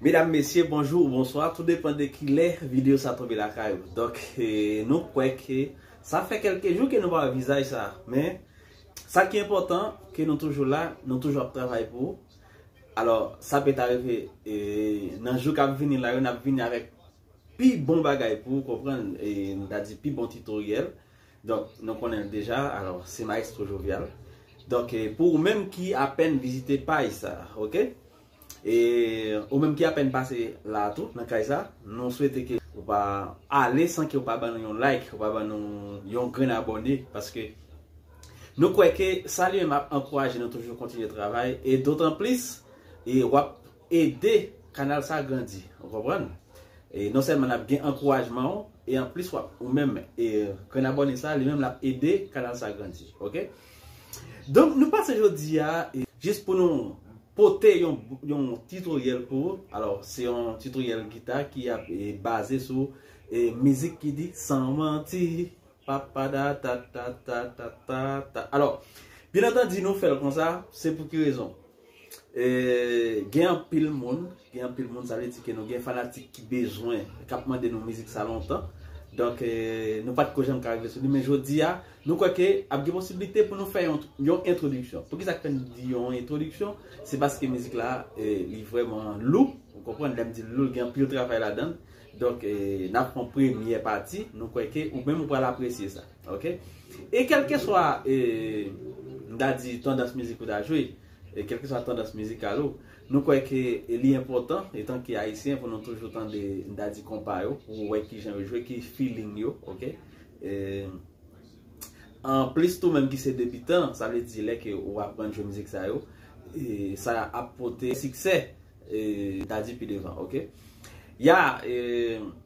Medam mesye bonjou ou bonswa tou depan de kilè video sa tonbe lakay ou Donk nou kwè ke sa fè kelke jou ke nou pa wè vizaj sa Men sa ki enpotan ke nou toujou la nou toujou ap travay pou ou Alò sa peta rive nan jou kap vini la yo nap vini avèk Pi bon bagay pou ou konprann e nou ta di pi bon titoryèl, donk nou konnen l deja, alò se Maestro Jovial. Donk pou ou menm ki apèn vizite paj sa, ok? E ou menm ki apèn pase la a tou, nan kay sa, nou swete ke ou pa ale san ke ou pa ban nou yon like, ou pa ban nou yon grenn abòne, paske nou kwè ke sa li menm ap ankouraje nou toujou kontinye travay, e dotanplis, e w ap. ede kanal sa grandi ou konprann e non sèlman nap gen ankourajman ou e anplis wap ou menm e grenn abòne sa li menm lap ede kanal sa grandi ok donk nou pase jodia jis pou nou pote yon yon titoryèl pou ou alò se yon titoryèl gita ki ap baze sou e mizik ki di san manti papada tatatatatata alò byen antandi nou fèl konsa se pou ki rezon Gen anpil moun, gen anpil moun sa vle di ke nou gen fanatik ki bezwen, kap mande nou mizik sa lontan. Donk nou pat ko janm ka rive sou li men jodi a nou kwè ke ap gen posibilite pou nou fè yon entwodiksyon. Pou ki sa fè m di yon entwodiksyon? Se paske mizik la li vrèman lou, ou konprann lè m di l lou, gen anpil travay ladan l. Donk nap pran premyè pati, nou kwè ke ou menm ou pral apresye sa. Ok E kelkeswa e m ta di tandans mizik ou ta jwe, e kelkeswa tandans mizikal ou, nou kwè ke li enpòtan etan ke ayisyen pou nou toujou tande m ta di konpa yo pou wè ki jan yo jwe, ki feeling yo, ok. E an plis tou menm ki se debitan, sa vle di lè ke ou aprann jwe mizik sa yo, e sa ap pote siksè e m ta di pi devan, ok. Ya e.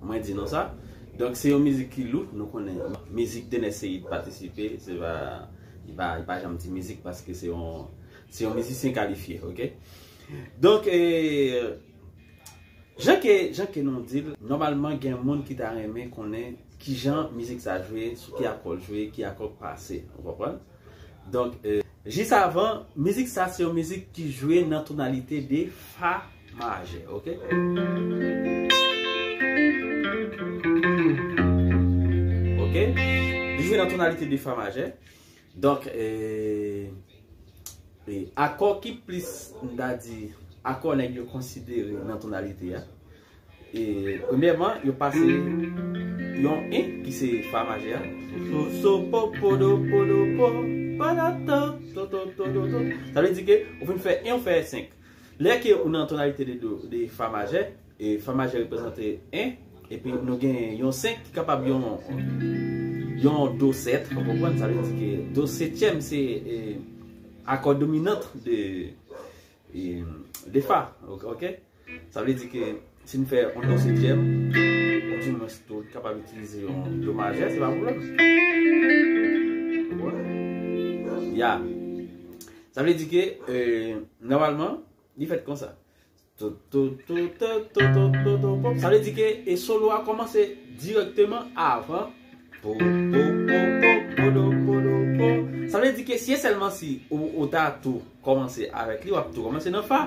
Mwen di non sa. Donk se yon mizik ki lou, nou konnen mizik Dener Ceïde patisipe, se pa, li pa, li pa janm di mizik paske se yon, se yon mizisyen kalifye ok. Donk e, jan ke, jan ke nou di l, nòmalman gen moun ki ta renmen konnen kijan mizik sa jwe, sou ki akò l jwe, ki akò k pase, ou konprann. Donk e, jis avan, mizik sa se yon mizik ki jwe nan tonalite de fa. Majè ok Li jwe nan tonalite de fa majè Donk Akò ki plis m ta di Akò nèg yo konsidere nan tonalite a Premyèman yo pase Yon I ki se fa majè a So so po po do po do po Sa vle di ke ou fin fè I ou fè 5 Lè ke ou nan tonalite de do, de fa majè, e fa majè reprezante 1, epi nou gen yon 5 ki kapab yon yon do 7, ou konprann? Sa vle di ke do setyèm se akò dominant de de fa, ok? Sa vle di ke Si n fè yon do setyèm, ou di mwen si tou kapab itilize yon do majè, se pa pwoblèm. Ya. Sa vle di ke, nòmalman, li fèt konsa. Sa vle di ke, e solo a kòmanse direkteman avan. Sa vle di ke, si e sèlman si ou ta tou kòmanse avèk li, w ap tou kòmanse nan fa.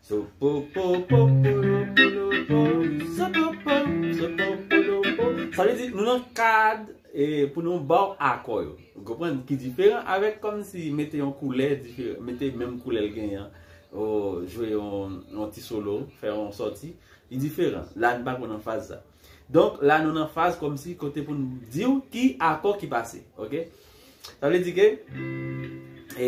Sa vle di nou nan kad pou nou ba w akò yo. Ou konprann? Ki diferan avèk kòm si mete yon koulè, mete menm koulè l genyen an, ou jwe yon ti solo, fè yon sòti, li diferan. La nou pa ko nan faz sa. Donk la nou nan faz kòm si kote pou nou di w ki akò ki pase. Ok? Sa vle di ke e...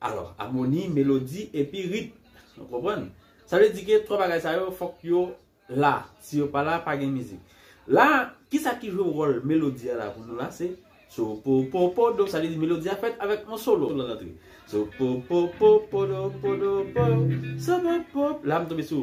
Alò, amoni, melodi, epi rit. Nou konprann? Sa vle di ke twa bagay sa yo fòk yo la. Si yo pa la, pa gen mizik. La, ki sa ki jwe wòl melodi a la pou nou la? Se sopopopodo. Sa vle di melodi a fèt avèk yon solo lan antre. Sopopopopodopodopo, sopopop. La m tonbe sou.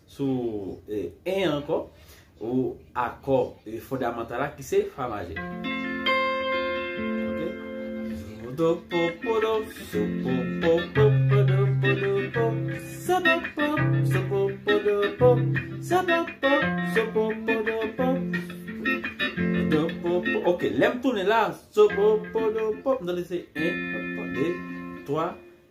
Sou 1 an ankò, ou akò fondamantal la ki se Fa majè. Ok, lè m tounen la.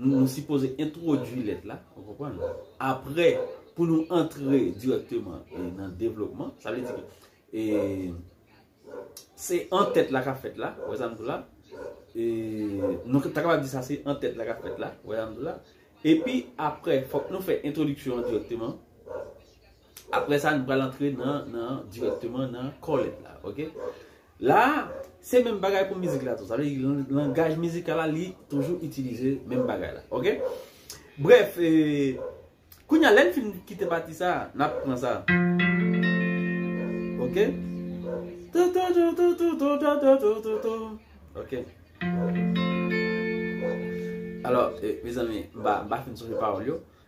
Nou sipoze entwodui lèt la, ou konprann? Apre, pou nou antre dirèkteman nan devlopman, sa vle di ki, e, se an tèt la ka fèt la, ou wè sa m di w la? E, nou ta kapab di sa se an tèt la ka fèt la, ou wè sa m di w la? Epi, apre, fòk nou fè entwodiksyon an dirèkteman. Apre sa, nou pral antre nan, nan, dirèkteman nan kò lèt la. Ok? La, se menm bagay pou mizik la tou. Sa vle di, langaj mizikal la, li toujou itilize menm bagay la. Ok? Brèf, e, kounye a, lè n fin kite pati sa a, n ap pran sa. Ok? Ok. Alò, e, mezanmi, m pa, m pa fin sonje pawòl yo.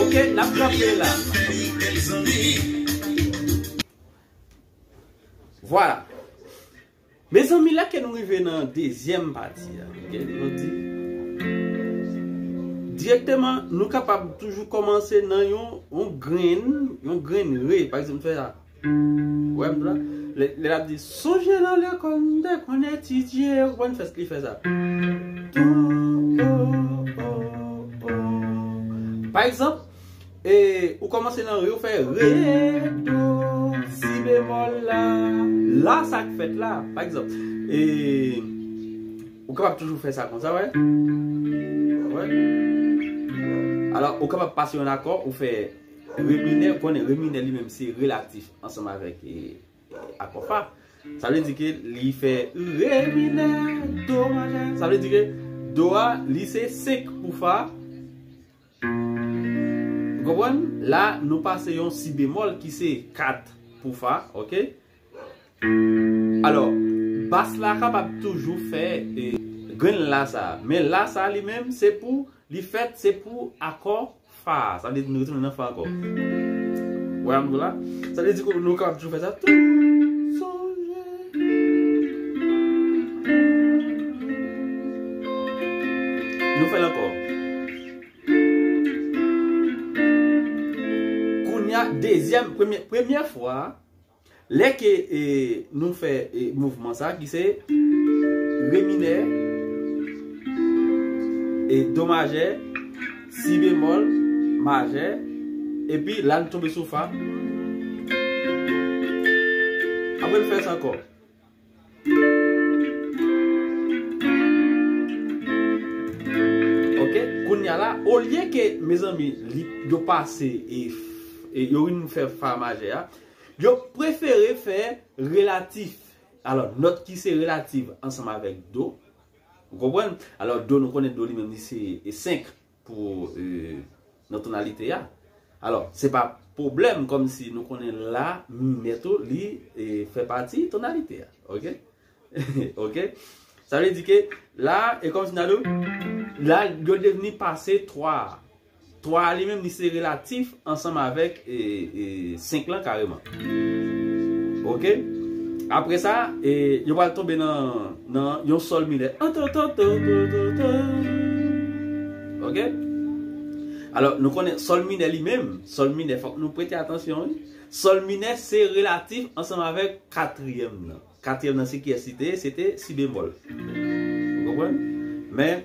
Ok nap kanpe la. Vwala. Mezanmi la ke nou rive nan dezyèm pati a. Direkteman nou kapab toujou komanse nan yon grenn, yon grenn re. Pa ekzanp nou fè sa. Wè m la, lè l ap di. Sonje nan lekòl m te konn etidye ou konprann fè li fè sa. Do o o o Pa egzanp, e ou kòmanse nan re ou fè re do si bemòl la la sa k fèt la pa egzanp e ou kapab toujou fè sa konsa wè wè alò ou kapab pase yon akò ou fè. Reminè konnen reminè li menm se relatif ansanm avèk akò fa. Sa vle di ke li fè re minè do majè. Sa vle di ke do a li se 5 pou fa. Ou konprann? La nou pase yon si bemòl ki se 4 pou fa. Ok? Alò, bas la kapab toujou fè grenn la sa. Men la sa li menm se pou li fèt se pou akò Fa, sa vle di nou retounen nan fa ankò. Wè ankò la. Sa vle di ke nou kapab toujou fè sa. Toujou sonje. Nou fè l ankò. Kounya dezyèm, premye, premye fwa. Lè ke nou fè mouvman sa ki se re minè e do majè si bemòl majè epi la nou tonbe sou fa apre nou fè sa ankò. Ok kounya la olye ke mezanmi li yo pase e e yo rin fè fa majè a yo prefere fè relatif alò nòt ki se relatif ansanm avèk do ou konprann alò do nou konnen do li menm li se 5 pou nan tonalite a alò se pa pwoblèm kòm si nou konnen la minè tou li fè pati tonalite a ok ok sa vle di ke la e kòm si nan do la yo devni pase 3 a 3 a li menm li se relatif Ansanm avèk 5 lan kareman. Ok. Apre sa, yo pral tonbe nan yon sòl minè. Ok. Alò, nou konnen sòl minè li menm, sòl minè fòk nou prete atansyon wi. Sòl minè se relatif ansanm avèk katriyèm nan. Katriyèm nan se kiyès li te ye? Se te si bemòl. Ou konprann? Men,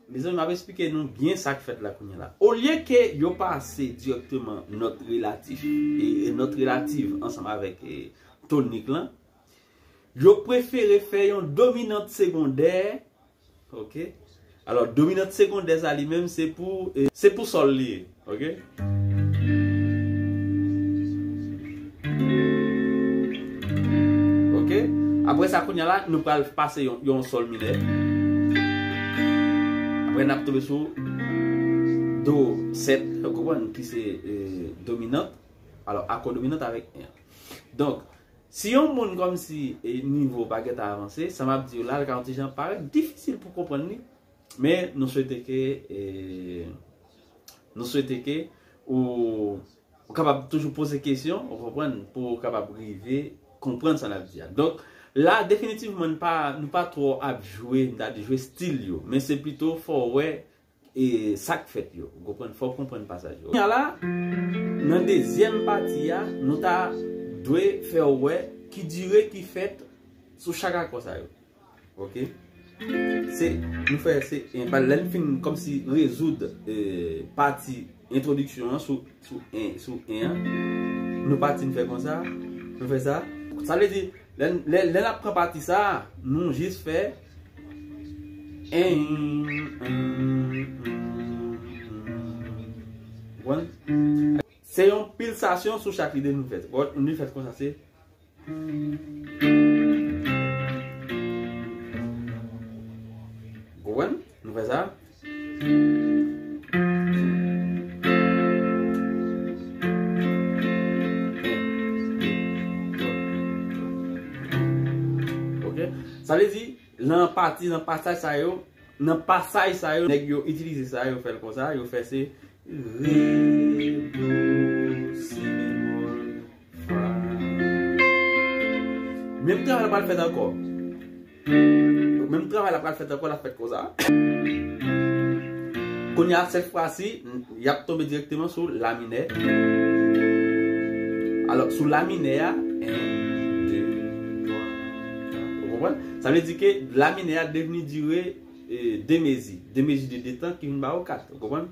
Mezanmi map esplike nou byen sak fèt la kounye la. Olye ke yo pase dirèkteman nòt relatif e nòt relativ ansanm avèk tonik lan, yo prefere fè yon dominant segondè, ok, alò dominant segondè sa li menm se pou se pou sòl li ye. Apre sa kounya la nou pral pase yon sol minè Apre nap tonbe sou Do 7 Ou konprann ki se dominant Alo akò dominant avèk 1 Donk si yon moun kòm si Nivo pa gentan avanse Sa map diw la li ka yon ti jan parèt difisil pou konprann li Men nou swete ke nou swete ke ou kapab toujou poze kesyon ou konprann pou ou kapab rive konprann sa nap di a. Donk la definitivman nou pa twò ap jwe m ta di jwe stil yo men se pito fò ou wè e sak fèt yo ou konprann fò ou konprann pasaj yo. Kounya la nan dezyèm pati a nou ta dwe fè ou wè ki dire ki fèt sou chak akò sa yo. Ok. Se, nou fè se, e pa lèn fin kòm si rezoud e pati entwodiksyon an sou, sou e, sou e an. Nou pati nou fè kon sa. Nou fè sa. Sa vle di, lèn, lèn, lèn ap pran pati sa, nou jis fè. E, e, e, e. Ou konn? Se yon pilsasyon sou chak lide nou fè. Ou konn? Nou fè kon sa se. Sa vle di, nan pati, nan pasaj sa yo, nan pasaj sa yo, nèg yo itilize sa yo fèl konsa, yo fè se, re, do, si, bemol. Menm travay la pral fèt ankò. Menm travay la pral fèt ankò, l ap fèt konsa. Kounye a, sèt fwa si, y ap tonbe dirèkteman sou la minè. Alò, sou la minè a, 1, 2, 3, 4. Ou konprann? Sa vle di ke la minè a devni dire 2 mezi. 2 mezi de 2 tan ki vin ba ou 4. Ou konprann?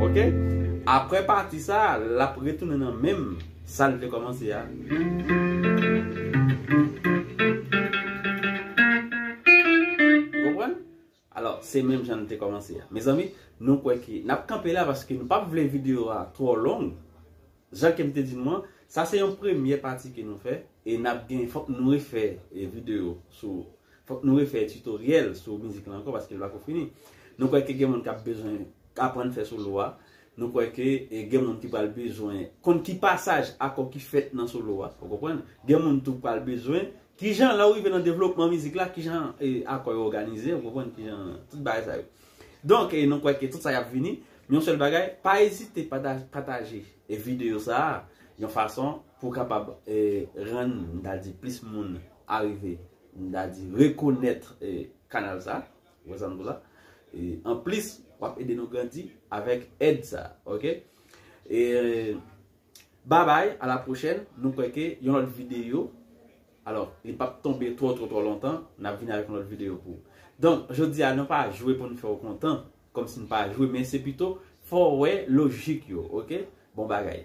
Ok aprè pati sa lap retounen nan menm sal te kòmanse a. Ou konprann? Alò se menm jan li te kòmanse a. Mezanmi nou kwè ke nap kanpe la paske nou pap vle video a twò long. Jan kem te di nou an, sa se yon premyè pati ke nou fè, e nap gen fòk nou refè video sou fòk nou refè tutoriel sou mizik lan ankò paske li pako fini. Nou kwè ke gen moun kap bezwen aprann fè solo a, nou kwè ke gen moun ki pral bezwen konn ki pasaj akò ki fèt nan solo a, ou konprann? Gen moun tou k pral bezwen Kijan lè ou rive nan devlopman mizik la, kijan akò yo òganize, ou konprann kijan tout bagay sa yo. Donk nou kwè ke tout sa y ap vini, men yon sèl bagay, pa ezite pataje videyo sa a yon fason pou kapab rann m ta di plis moun arive m ta di rekonèt kanal sa a. Anplis w ap ede nou grandi avèk èd sa a. Babay a la pwochèn nou kwè ke yon lòt video alò li pap tonbe twò twò twò lontan nap vini avèk yon lòt video pou ou donk jodi a nou pa jwe pou nou fè ou kontan kòmsi nou pa jwe men se pito fò ou wè lojik yo ok bon bagay.